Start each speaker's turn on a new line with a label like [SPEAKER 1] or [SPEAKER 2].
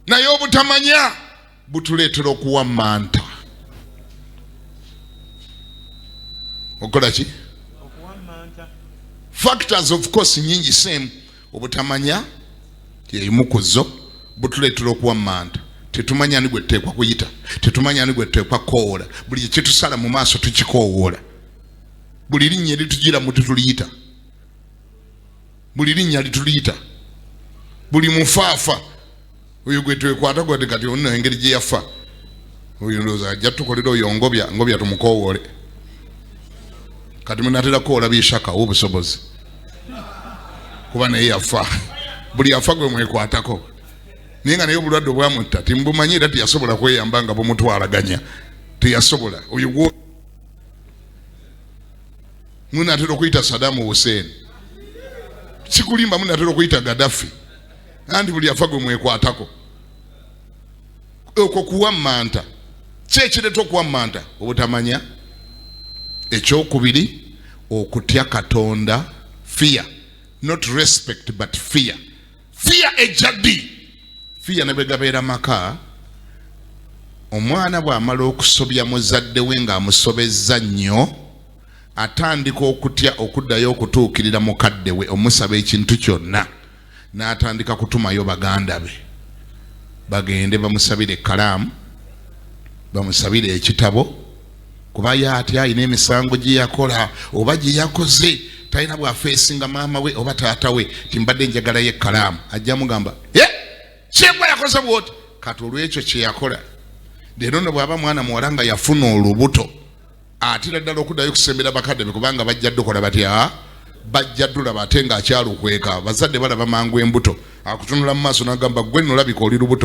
[SPEAKER 1] naye obutamanya butuleetera okuwa manta okola ki factors of course nyingi same obutamanya yeyimu ku zo butuleetera okuwa manta tetumanya ani gwe tuteekwa kuyita tetumanya ani gwe tuteekwa kukowoola buli kyekitusala mu maaso tukikowoola buli linnya eritugira mu tetuliyita buli linnya lituliyita buli mufaafa oyo gwe twekwata gwate kati ono engeri gye yafa oyo ndowooza ajja tukolera oyo ngobya ngobya tumukowoole kati munatera kukowola byeshaka obusobozi kuba naye yafa buli afa gwe mwekwatako naye nga naye obulwadde obwamutta timubumanyi era teyasobola kweyamba nga bumutwalaganya teyasobola oyo Muna atera okuyita Saddam Hussein. Sikulimba muna atera okuyita Gaddafi. Anti buli afa gwe mwekwatako. Okwo kuwammanta. Kye kireeta okuwammanta obutamanya. Ekyokubiri okutya Katonda fear not respect but fear. fiya ejja ddi fiya ne bwe gabeera maka omwana bw'amala okusobya muzadde we ng'amusobezza nnyo atandika okutya okuddayo okutuukirira mukadde we omusaba ekintu kyonna n'atandika kutumayo baganda be bagende bamusabire ekkalaamu bamusabire ekitabo kuba ye ate alina emisango gye yakola oba gye yakoze talina bwafeesinga maama we oba taata we timbadde njagalayo ekkalaamu ajja mugamba e kyegwa yakoze bwoti kati olwekyo kyeyakola leero no bwaba mwana muwala nga yafuna olubuto atira ddala okuddayo okusembera bakadde be kubanga bajja dukola batya bajja dulaba ate ng'akyalukweka bazadde balaba mangu embuto akutunula mu maaso n'agamba gwe nolabika oli lubuto